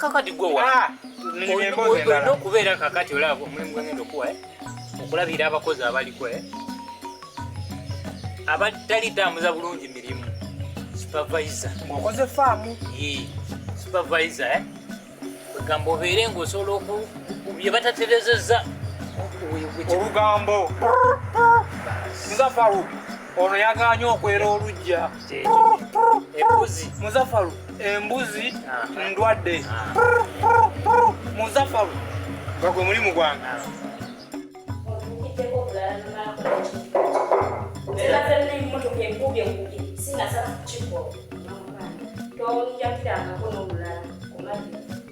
kakati gwe wa ah, olina okubeera kakati olaba omulimu gwengenda okuwa eh? okulabira abakozi abaliko eh? abatali tambuza bulungi mirimu supervisor ngokoze faamu supervisor eh? kwegamba obeere ngaosobola oku bye bataterezeza olugambo nga faru ono yaganye okwera olujja muzafalu embuzi ndwadde muzafalu nga gwe mulimu gwange Thank you.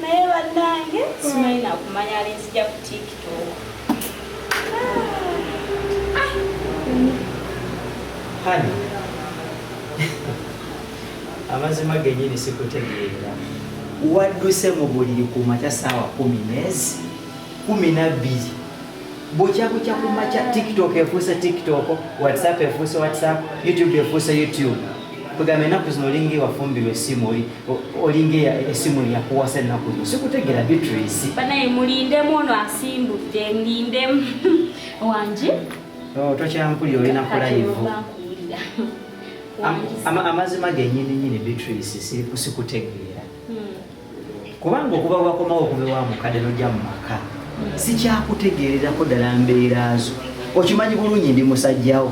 naye bannange simanyi nakumanya alinzija ku tiktok hani amazima genyini sikutegeera wadduse mu buliri ku makya saawa kumi neezi kumi nabbiri bukya bukya ku makya tiktok efuuse tiktok whatsapp efuuse whatsapp youtube efuuse youtube kwegamba enaku zino olinga ewafumbirwa esimu olinga esimu yakuwasa enaku zino sikutegera beatrice banaye mulindemu ono asimbudde mulindemu wangi oh, tokyampulira olina kulayivu amazima genyini nyini beatrice sikutegeera hmm. kubanga okuba wakomawo okuva ewa mukadde nojja mu maka sikyakutegeererako ddala mbeera zo okimanyi bulungi ndi musajjawo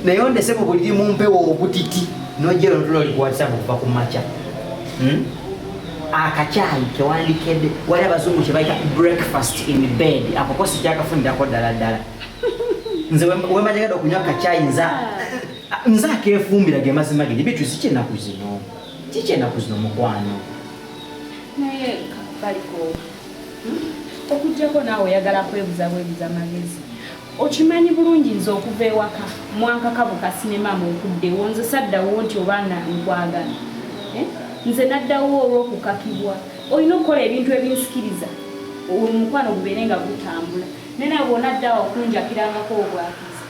naye ondese mu buliri mu mpewo obutiti nojja ero notula oli kuwatisabu okuva ku makya hmm? akakyayi kewandikede wali abazungu kyebayita breakfast in bed akoko sikyakafunirako ddala ddala nze wemajagada okunywa akakyayi nza nze akefumbira ge mazima gedi bituzikyenaku zino Kiki enaku zino mukwano? Naye baliko hmm? okujjako naawe oyagala kwebuza bwebuza magezi okimanyi bulungi nze okuva ewaka mwankaka bukasinema mu okuddewo nze saddawo nti obaana nkwagala eh? nze naddawo olw'okukakibwa olina okukola ebintu ebinsikiriza omukwano gubeere nga gutambula naye nabwonaddawo okunjakirangako obwaka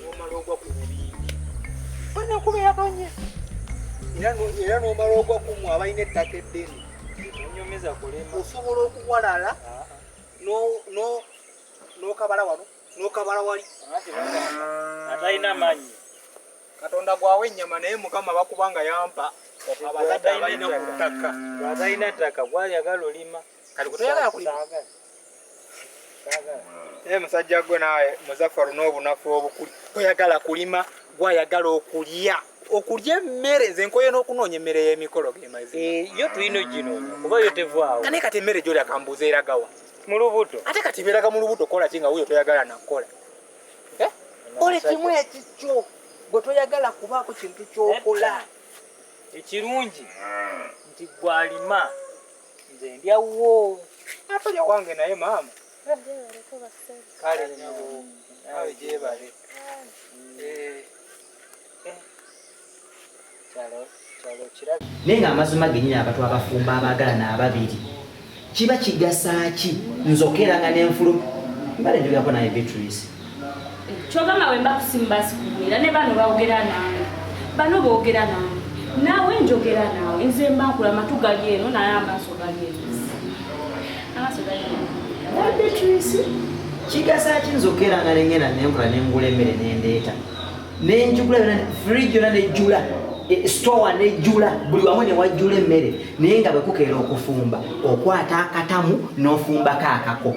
n'omala ogwa ku bubindi bana kuba yatonye era n'omala ogwa ku mwe abalina ettaka eddene onyomeza kulema osobola okuwalala ah, ah. n'okabala wano n'okabala wali atalina manyi katonda gwawa ennyama naye mukama bakubanga yampa abazadde abalina ku ttaka atalina ttaka gwayagala olima kati kutoyagala kulima naye musajja gwe naawe muzafaru n'obunafu obukuli toyagala kulima gwayagala okulya okulya emmere nze nkoye n'okunoonya emmere y'emikolo gemazi eh, yo tulina gino kuba yo tevaawo kane kati emmere gyoli akambuuza eragawa mu lubuto ate kati beeraga mu lubuto kola ki nga wuyo toyagala nakukola eh? ole kimu ekikyo gwe toyagala kubaako kintu kyokola ekirungi nti gwalima nze ndya wuwo atalya wange naye maama kale nyabo nawe gyebale naye nga amazima genyini abantu abafumba abaagalana ababiri kiba kigasa ki nzokera nga nenfulu mbale njogako naye beatrice kyogamba wemba kusimu basi kuwulira ne bano bawogera nange bano boogera nange naawe njogera naawe nze mba nkula matu gali eno naye amaaso gali eno amaaso gali eno beatrice kigasa ki nzokera nga nengenda nenkola nengula emmere nendeeta nenjugula yona fridge yona nejjula e, store nejjula buli wamu newajjula emmere naye nga bwekukeera okufumba okwata akatamu nofumbako akako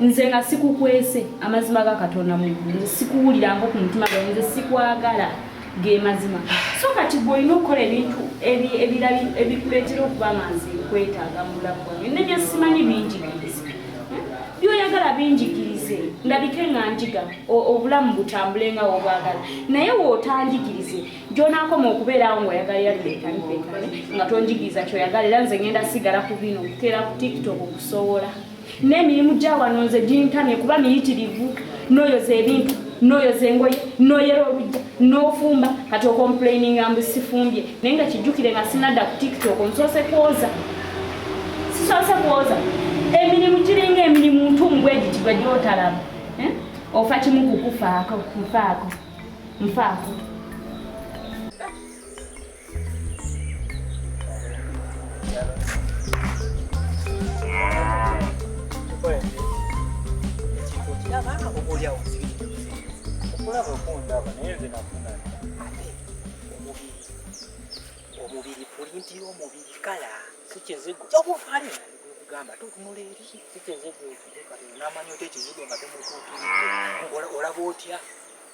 nze nga sikukwese amazima ga katonda muggulu nze sikuwulirango ku mutima gwe nze sikwagala ge mazima so kati gwe olina okukola ebintu ebikuleetera okuba nga nze nkwetaaga mu bulamu bwange ne byesimanyi binjigirize hmm? byoyagala binjigirize ndabike nga njiga obulamu butambule nga wobwagala naye wootanjigirize gyonaakoma okubeerawo ngaoyagala yalibekanibekane nga tonjigiriza kyoyagala era nze ngenda sigala ku bino okuteera ku tiktok okusobola N'emirimu gya wano nze gintamye kuba miyitirivu. Noyoza ebintu, noyoza engoye, noyera olujja, nofumba kati okomplaininga mbu sifumbye naye nga kijjukire nga sinadda ku tiktok nsoose kwoza sisoose kwoza emirimu giringa emirimu ntumu bwegiti gwe gyotalaba eh? ofa kimu kukufaako nfaako nfaako omubiri pulinti y'omubiri kala sikizigo kyokufalina kugamba tutunula eri sikizigo namanya oti ekizigo nga tumutuukirira olaba otya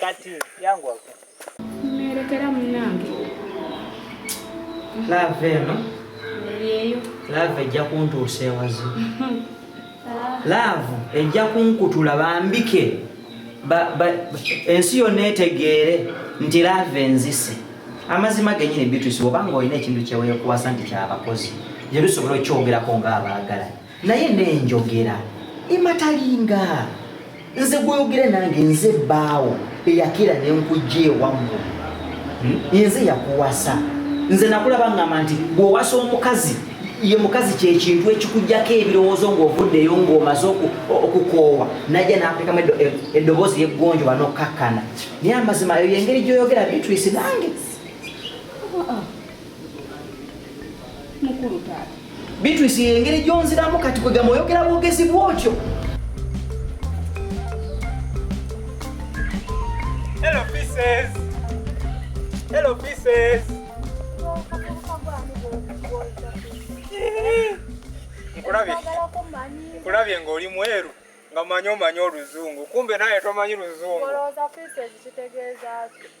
Kati yangu wako. Mmerekera munange. Love eno. Yeyo. Love ejja kuntuusa ewazi. Love ejja kunkutula bambike. Ba, ba, ensi yonna etegeere nti love enzise amazima genyini bitusi obanga olina ekintu kyeweekuwasa nti kyabakozi gye lusobola okukyogerako ng'abaagala naye nenjogera ematalinga nze gwoyogera nange nze baawo eyakira nenkujja ewammwe hmm? nze yakuwasa nze nakulaba ngamba nti bwowasa omukazi ye mukazi kyekintu ekikujjako ebirowoozo ngaovuddeyo ngaomaze okukoowa najja nakulekamu eddoboozi yeggonjo banokkakkana naye amazima eyo yengeri gyoyogera bitwisi nange mukulu taata bitwisi engeri gyonziramu kati kwegamba oyogera bwogezi bwotyo Hello pieces. Hello pieces. Nkulabye. Nkulabye ng'oli mweru nga manyi omanyi oluzungu kumbe naye tomanyi luzungu. Olowooza pieces kitegeeza ki?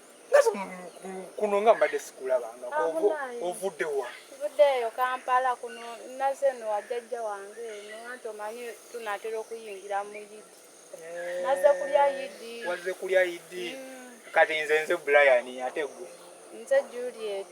kuno nga mbadde sikulabanga ah, ovudde wa vuddeeyo kampala kuno naze no wajajja wange eno anti omanyi tunatera okuyingira mu yidi eh, naze kulya yidi waze kulya yidi mm. kati nze nze brian ate gwe nze juliet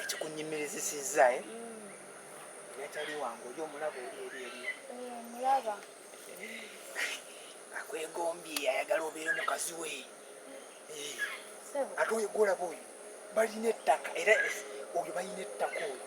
ekikunyimirizisizza eh? mm. yatali wange oli omulaba oli eri eri omulaba eh, akwegombye ayagala obeere mukazi we ate oyo gwolaba oyo balina ettaka era oyo balina ettaka oyo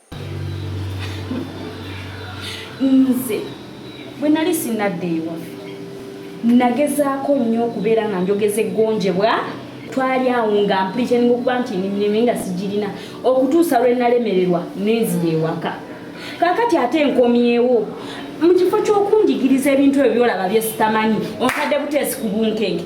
nze bwe nali sinadda ewaffe nagezaako nnyo okubeera nga njogeza eggonjebwa twali awo nga mpuliteninga okuba nti nimireme nga sigirina okutuusa lwe nalemererwa nenzira ewaka kakati ate nkomyewo mu kifo ky'okunjigiriza ebintu ebyo byolaba byesitamanyi ontadde buteesi ku bunkenke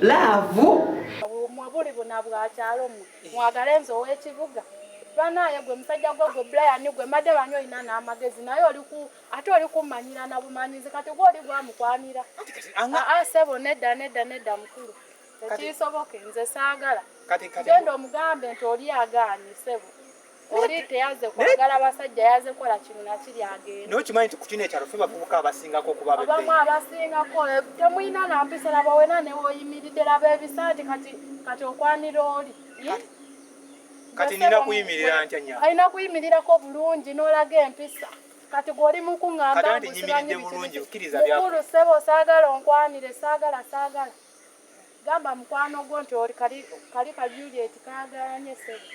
laavu mwe buli buna bwakyalo mwe mwagale nze ow'ekibuga banaye gwe musajja gwe gwe brian gwe madde banyi olina n'amagezi naye oliku ate oli kummanyira na bumanyizi kati gwe oli gwamukwanira aa sebo nedda nedda nedda mukulu tekiisoboke nze saagala genda omugambe nti oli agaanyi sebo nokimanyi nti kukino ekyalo fe bavubuka abasingako okuba abamu abasingako eh, temulina nampisa laba wena newoyimiridde laba ebisanti kati kati okwanira oli kati nina kuyimirira ntya nya alina kuyimirirako bulungi nolaga empisa kati gwoli mukuŋambamukulu sebo saagala onkwanire saagala saagala gamba mukwano gwo nti oli kali kali ka Juliet kagalanye sebo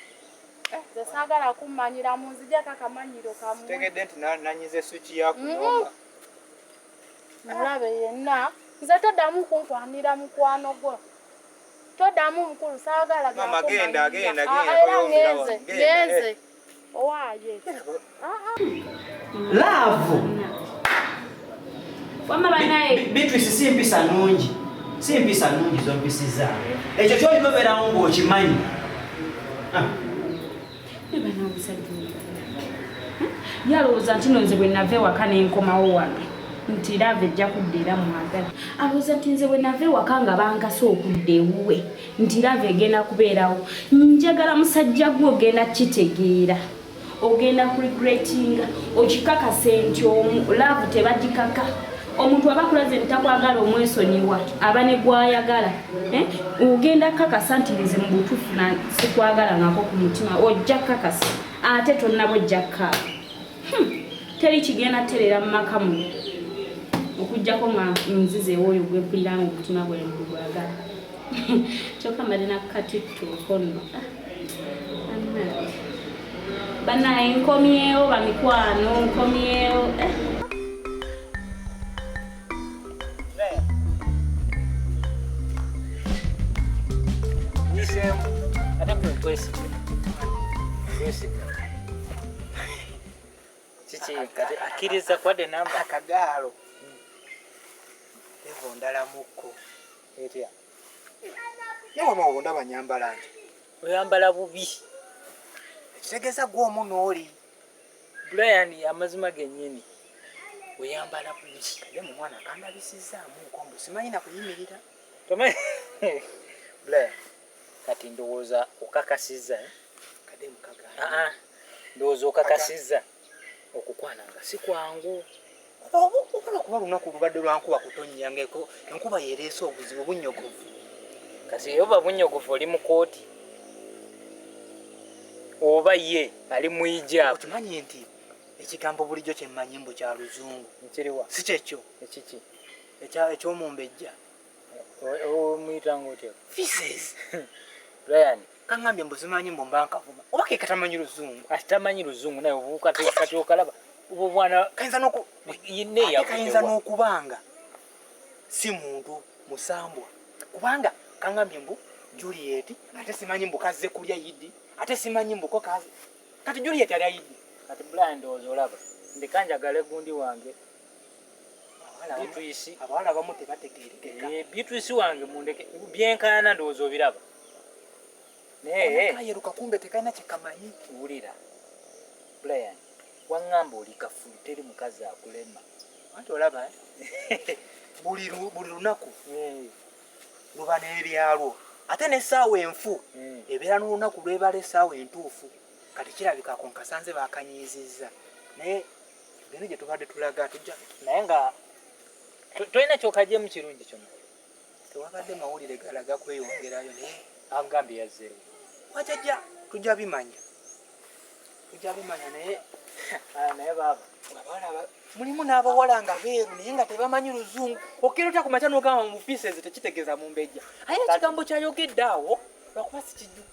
eh, nze saagala kummanyira mu nzija kakamanyiro kamu tegedde nti nanyize swiki yakunoma mm. mulabe yenna nze toddamu kunkwanira mukwano gwo toddamu mukulu saagala genda genda genda ah, era ngenze ngenze eh. owaye laavu bitwisi si mpisa nungi si mpisa nungi zompisiza ekyo kyoliboberawo ngaokimanyi ah. yalowooza nti nonze bwe nava ewaka nenkomawo wano nti laavu ejja kudda era mwagala alowooza nti nze bwe nava ewaka nga bankasa okudda ewuwe nti lava egenda kubeerawo njagala musajja gwe ogenda kukitegeera ogenda kuregretinga okikakase nti omu laavu tebagikaka omuntu aba kulaze ntakwagala omwesonyiwa aba ne gwayagala eh? ogenda kakasa nti nze mu butuufu na sikwagala ngako ku mutima ojja kakasa ate tonnaba ojja kaaba Hmm, teri kigenda terera mu maka mu okujjako nga nzize ewooyo gwempulira nga omutima gwange gwagala kyokka mbadde nakukatittuuko nno ah, banaye nkomyewo bamikwano nkomyewo eh. kiki kati akkiriza kwadde namba akagaalo evo ndalamukko etya newama obundaba nyambala nti oyambala bubi ekitegeeza gwomu nooli Brian amazima genyini oyambala bulungi naye mu mwana kandabisizzaamu nkombo simanyi na kuyimirira tomanyi Brian kati ndowooza okakasizza eh? ah, ah. ndowooza okakasizza okukwana nga si kwangu Okukola kuba lunaku lubadde lwa nkuba kutonnya ng'eko enkuba yereese obuzibu bunyogovu. Kati oba bunyogovu oli mu kooti oba ye ali mu ijaabu. Okimanyi nti ekigambo bulijjo kye mmanyi mbu kya luzungu si kyekyo eky'omumbejja. omuyitanga otya fises ryan kangambye mbu zimanyi mbu mba nkavuma oba ke katamanyi luzungu ati tamanyi luzungu naye kati okalaba obwo bwana kayinza noku kayinza n'okubanga si muntu musambwa kubanga kangambye mbu juliet ate simanyi mbu kazze kulya yidi ate simanyi mbu ko kaze kati juliet alya yidi kati brian ndowooza olaba ndeka njagale gundi wange abawala abamu tebategeerekeka eh, bitwisi wange mundeke byenkaana ndowooza obiraba nayeyeruka kumbe tekalina kyekamanyi wulira brian waŋŋamba oli kafulu teri mukazi akulema anti olaba eh? buli lunaku eh. luba n'ebyalwo ate n'essaawa enfu ebeera n'olunaku lwebala essaawa entuufu kati kirabika konkasanze bakanyiizizza naye Bino gye tubadde tulaga tujja naye nga tolina kyokagyemu kirungi kyona tewabadde mawulire galaga kweyongerayo naye agambye yazzeewo wajajja tujja bimanya tujja bimanya naye ah, naye baaba abalaba mulimu n'abawala nga beeru naye nga tebamanyi luzungu okkera otya ku makya n'ogamba mu pieces tekitegeeza mumbejja aye ekigambo kyayogedde awo lwakuba sikijjuka